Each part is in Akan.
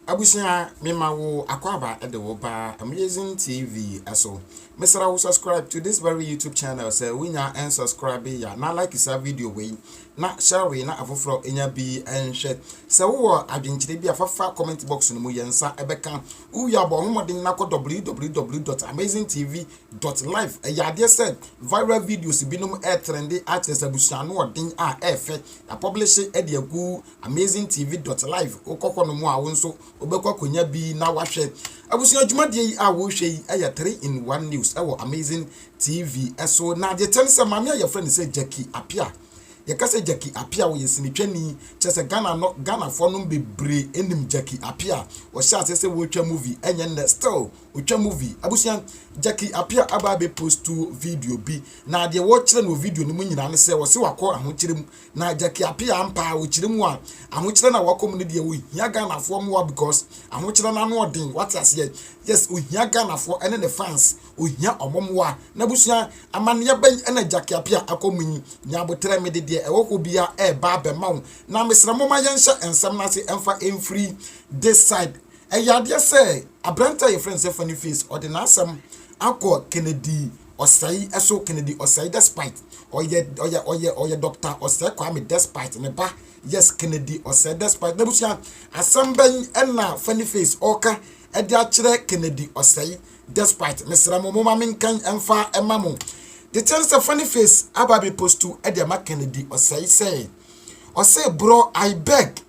Abusua me ma wo akwaba de wo ba Amazing TV so. Me sra wo subscribe to this very YouTube channel sɛ wonya and subscribe ya na like sa video wei na Shelvie na afoforɔ nya bi nhwɛ. Sɛ wowɔ adwenkyerɛ bi a fa fa comment box no mu, yɛn nsa bɛka. Wowie a bɔ wo mmɔden na kɔ www dot amazing tv dot live. Ɛyɛ adeɛ sɛ viral videos binom retrende akyerɛ sɛ abusua anoɔden a ɛɛfɛ. Yɛapɔblehye de agu amazing tv dot live. Wokɔ hɔnom a wo nso wobɛkɔ akɔnya bi na woahwɛ. Abusua dwumadie yi a worehwɛ yi yɛ three in one news wɔ amazing TV so na agye kyɛ ne sɛ maame a yɛfrɛ no sɛ Jackie Appiah. Yɛka sɛ Jackie Appiah, ɔyɛ sinitwani, kyerɛ sɛ Ghana no, Ghanafoɔ nom bebree nim Jackie Appiah. Ɔhyɛ aseɛ sɛ wɔretwa movie, ɛnyɛ nnɛ, still ɔtwa movie. Abusua, Jackie Appiah aba abɛ postu video bi, na deɛ wɔkyerɛ no wɔ video no mu nyinaa ne sɛ ɔse wakɔ ahokyerɛ mu. Na Jackie Appiah ampa a ɔkyerɛ mu a, ahokyerɛ no a wakɔ mu no deɛ ɔhia Ghanafoɔ mmoa because ahokyerɛ no ano ɔden, wate aseɛ? Yes, ɔhia Ghanafoɔ ɛne ne fans. Ohia wɔn mmoa. N'abusua amanneɛ bɛn na Agya Kiapia akɔ mu yi? Nya aboterɛ, mede deɛ ɛwɔ hɔ biara reba abɛma wo. Na mesrɛ momma yɛnhyɛ nsɛm no ase mfa mfiri this side. Ɛyɛ adeɛ sɛ aberante a yɛfrɛ no sɛ Funny Face, ɔde n'asɛm akɔ Kennedy Osei so, Kennedy Osei despite ɔyɛ ɔyɛ ɔyɛ ɔyɛ Doctor Osei Kwame despite ne ba, yes Kennedy Osei despite n'abusua. Asɛm bɛn na Funny Face ɔreka de akyerɛ Kennedy Osei? Despite mesrɛ mo moma menkan ɛmfa ɛma mo The kyɛn sɛ funny face aba bɛ post to ɛde ama Kennedy ɔsɛe sɛ ɔse bro I beg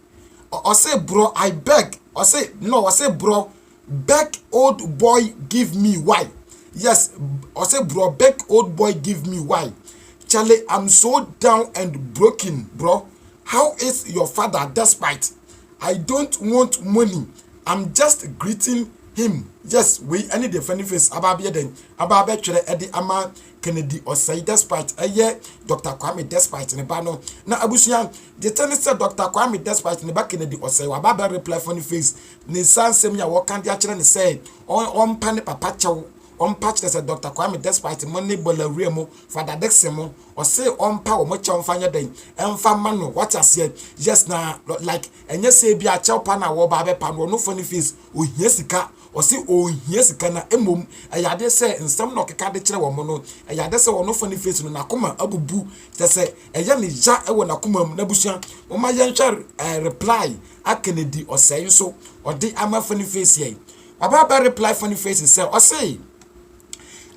ɔse bro I beg ɔse no ɔse bro beg old boy give me why yes ɔse bro beg old boy give me why Charlie I'm so down and broken bro how is your father despite I don't want money I'm just greeting him Yes wei ɛne deɛ funny face aba abɛyɛ dɛn aba abɛtwerɛ ɛde ama Kennedy Ɔsɛe Despite ɛyɛ Dr. Kwame Despite ne ba no na abusua gyete ne sɛ Dr. Kwame Despite ne ba Kennedy Ɔsɛe waba abɛ reply funny face ne nsa nsɛm yi a wɔka de akyerɛ ne sɛ ɔmpa ne papa kyɛw ɔmpa kyerɛ sɛ Dr. Kwame Despite mo ne Bɔlawura mo Fada Dixon mo Ɔse ɔmpa wɔn kyɛw mfa nyɛ dɛn ɛmfa mma no wate aseɛ yes na like ɛnyɛ sɛ ebi akyɛw pa na wɔba abɛpa no ɔno funny face ohia sika ɔse ɔnhia sika na mmom ɛyɛ adeɛ sɛ nsɛm na ɔkeka de kyerɛ wɔn no ɛyɛ adeɛ sɛ ɔno funny face no n'akoma abubu kyɛ sɛ ɛyɛ ne ya ɛwɔ n'akoma mu n'abusua moma yɛnhwɛ eh, reply a Kennedy ɔsɛe nso ɔde ama funny face yɛ ɔba abɛ reply funny face sɛ ɔse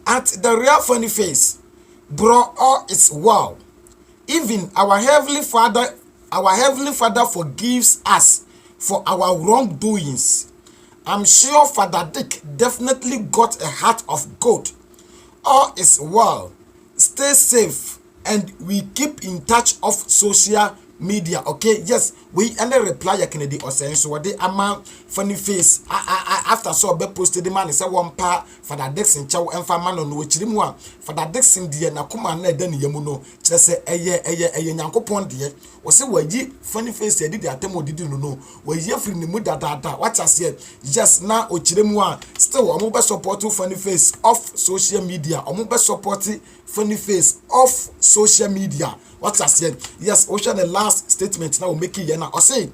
at the real funny face Bro all is well even our heavenly father our heavenly father forgives us for our wrong doings I'm sure father Dick definitely got a heart of gold all is well stay safe and we keep in touch off social media ok yes wei ne reply a Kennedy Osei nso wɔde ama funny face a a a after sɛ ɔbɛ post de ma ne sɛ wɔmpa Fada Dickson kyɛw mfa mma no no, akyiri mu a Fada Dickson deɛ n'akoma a na ɛda ne yam no, kyerɛ sɛ ɛyɛ ɛyɛ ɛyɛ Nyankopɔn deɛ. Ɔse wayi Funny Face adi de atam a ɔdidi no no, wayi afiri ne mu dadaada. Wate aseɛ? Yes, na ɔkyerɛ mu a still ɔmo bɛ support Funny Face off social media, ɔmo bɛ support Funny Face off social media. Wate aseɛ? Yes, wohwɛ ne last statement na ɔmakeeɛ na ɔse,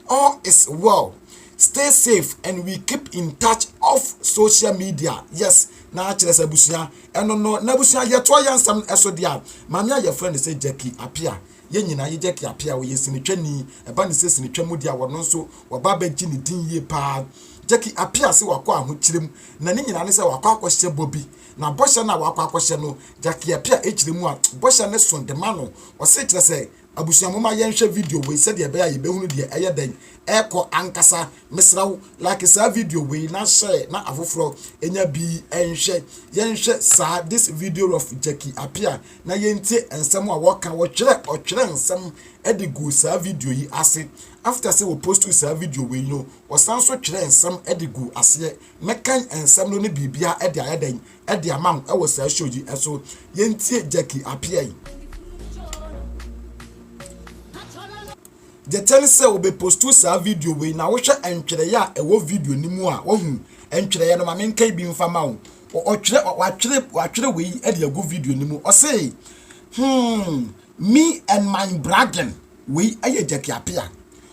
All is well, stay safe and we keep in touch off social media yes na akyerɛ sɛ abusua ɛno no na abusua yɛtoa yɛn nsɛm ɛso deɛ a maame a yɛfrɛ no sɛ Jackie Apia yɛn nyinaa yɛ Jackie Apia ɔyɛ sinitwani ɛba ne sɛ sinitwa mu deɛ a wɔno nso wɔba abɛgye ne din yie paa Jackie Apia sɛ wakɔ ahokyerɛ mu na ne nyinaa ne sɛ wakɔ akɔhyɛ bɔ bi na bɔhyɛ no a wakɔ akɔhyɛ no Jackie Apia kyerɛ mu a bɔhyɛ no so de ma no ɔse kyerɛ sɛ Abusua momma yɛnhwɛ video wei sɛdeɛ ɛbɛyɛ a yɛbɛhunu deɛ ɛyɛ dɛn ɛrekɔ ankasa. Mesrɛ wo like saa video wei na share na afoforɔ ɛnya bi nhwɛ. Yɛnhwɛ saa this video of Jackie Appiah na yɛntie nsɛm a wɔka. Wɔtwerɛ ɔtwerɛ nsɛm de guu saa video yi ase. After sɛ wɔpostuu saa video wei no, wɔsan nso twerɛ nsɛm de guu aseɛ. Mɛkan nsɛm no ne biribiara de ayɛ dɛn de ama wo ɛwɔ saa show yi ɛso yɛntie Jackie Apiai deɛ kyɛ ne sɛ wɔbɛpostu saa video wei na wohwɛ ntwerɛeɛ a ɛwɔ video no mu a wahu ntwerɛeɛ no ma menka bi mfa ma wo ɔtwerɛ watwerɛ watwerɛ wei de agu video no mu ɔse hmm me and my bragging wei ɛyɛ Jackie Apia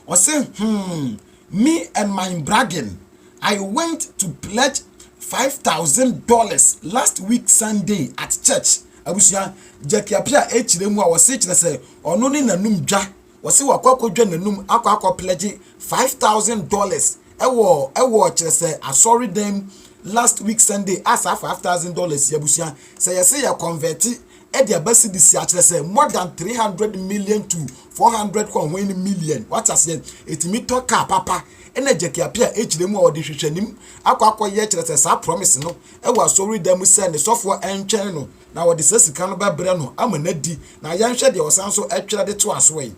ɔse hmm Me and my bragen I went to pledge five thousand dollars last week Sunday at church abusua Jacky Apia ekyirɛ mu a wɔse kyerɛ sɛ ɔno ne nanum dwa wɔse wakɔ akɔ dwa nanum akɔ akɔ pledge five thousand dollars ɛwɔ ɛwɔ kyerɛ sɛ asɔre dɛm last week Sunday a saa five thousand dollars yɛ abusua sɛ yɛse yɛ convert de aba cedi si akyerɛ sɛ more than three hundred million to four hundred kɔnhɔn ne million wate aseɛ ɛtumi tɔ kaa papa ɛna gyakiape a ɛkyerɛ mu a ɔde hwehwɛnim akɔ akɔyɛ kyerɛ sɛ saa promise no ɛwɔ asɔre da mu sɛ ne sɔfoɔ ɛntwɛn no na wɔde saa sika no bɛbrɛ no ama no adi na yɛnhwɛ deɛ ɔsan so ɛtwerɛ de to asoɔ yi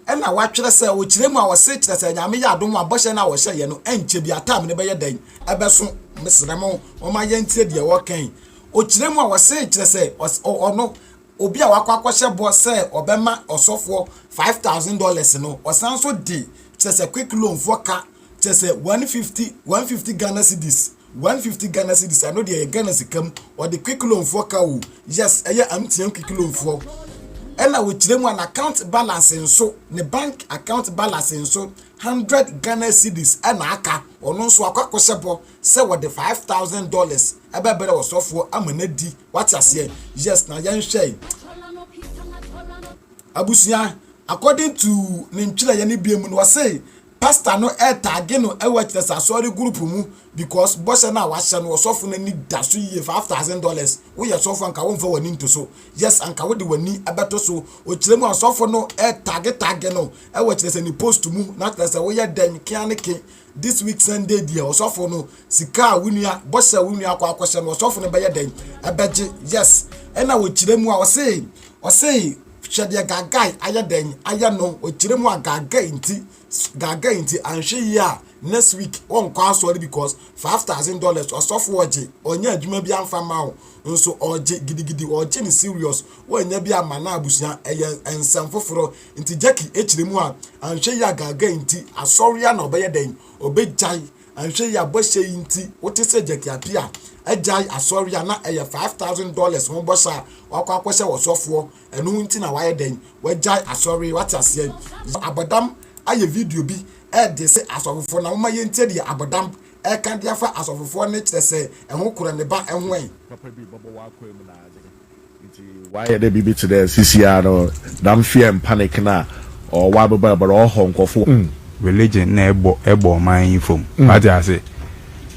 na wɔatwerɛ sɛ, Ɔkyerɛ mu a ɔse, kyerɛ sɛ, Nyame yɛ adom a bɔhyɛ no a ɔhyɛ yɛ no ɛnkyɛ bia time no bɛyɛ dɛn? ɛbɛso, mesrɛ mo momma yɛntie deɛ ɔka yi, Ɔkyerɛ mu a ɔse, kyerɛ sɛ, ɔno, obi a wakɔ akɔhyɛ bɔ sɛ ɔbɛma ɔsɔfoɔ five thousand dollars no, ɔsan nso de, kyerɛ sɛ, quick loan foɔ ka, kyerɛ sɛ, one fifty, one fifty Ghana cedis, One fifty Ghana cedis ano deɛ yɛ Ghana sika mu wɔde quick loan foɔ ka o yes ɛyɛ amteam quick loan foɔ ɛna wɔkyerɛ mu a na account balance nso ne bank account balance nso hundred Ghana cedis ɛna aka ɔno nso akɔ akɔhyɛ bɔ sɛ wɔde five thousand dollars ɛbɛbrɛ ɔsɔfoɔ ama no adi wate aseɛ yes na yɛnhwɛ abusua according to ne ntwerɛeɛ no bie mu no wɔse Pastor no retag no wɔ ɛkyerɛ sɛ asɔre group mu because bɔhyɛ no a wahyɛ no ɔsɔfo no ani da so yie five thousand dollars woyɛ sɔfo anka wonfa w'ani nto so yes anka wode w'ani ɛbɛto so okyerɛ mu asɔfo no retag tag no wɔ kyerɛ sɛ ne post mu na kyerɛ sɛ woyɛ dɛn kea ne ke this week Sunday deɛ ɔsɔfo no sika a wo nua bɔhyɛ wo nua akɔ akɔhyɛ no ɔsɔfo no bɛyɛ dɛn ɛbɛgye yes ɛna okyerɛ mu a ɔse ɔse Hwɛ deɛ Gagai ayɛ dɛn ayɛ no, ɔkyerɛ mu a Gagai nti, Gagai nti anhwɛ yie a next week ɔnkɔ asɔre because five thousand dollars ɔsɔfo ɔgye, ɔnyɛ adwuma bi anfa ma wo nso ɔgye gidigidi, ɔgye no serious, wannya bi amma n'abusua, ɛyɛ nsɛm foforɔ nti Jackie kyerɛ mu a anhwɛ yie a Gagai nti asɔre a na ɔbɛyɛ dɛn, ɔbɛgyae. Anhwɛ yie a bɔhyɛ yi nti wote sɛ Jack Appiah agyae asɔre a na ɛyɛ five thousand dollars ho bɔhyɛ a wakɔ akɔhyɛ wɔ sɔfoɔ ɛno nti na wayɛ dɛn wagyae asɔre yi wate aseɛ yɛ abɔdam ayɛ video bi ɛde se asɔfofoɔ na moma yɛntie deɛ abɔdam ɛka de afa asɔfofoɔ ne kyerɛ sɛ ɛho korɔ ne ba ɛho ɛ. Papa bi bɛbɔ w'akwan mu n'adze. Ntsi ɔayɛ dɛ biribi tse dɛ seseiara no dɛm fear and panic no a ɔwɔ wɔ ababrabɔ no ɔhɔ nkorɔfo. Mm, religion na ɛbɔ ɛbɔ ɔman yi famu. Mm. Wate ase?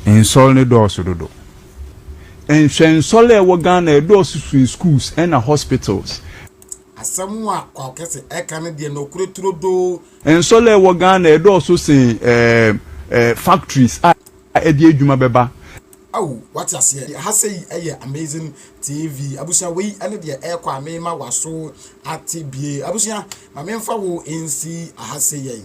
Nsɔr no dɔɔso dodo. Nhwɛ nsɔr a ɛwɔ Ghana ɛdɔɔso sen schools ɛna hospitals. Asɛm a Kwaw Kɛse ɛka no deɛ nokorɛ turodoo. Nsɔr a ɛwɔ Ghana ɛdɔɔso sen ɛɛ ɛɛ factories a ɛde adwuma bɛba. Ao wate aseɛ deɛ ha sei ɛyɛ amazing TV abusua wei ɛne deɛ ɛɛkɔ a mema waso ate bie abusua ma menfa wo nsi aha sei yɛn.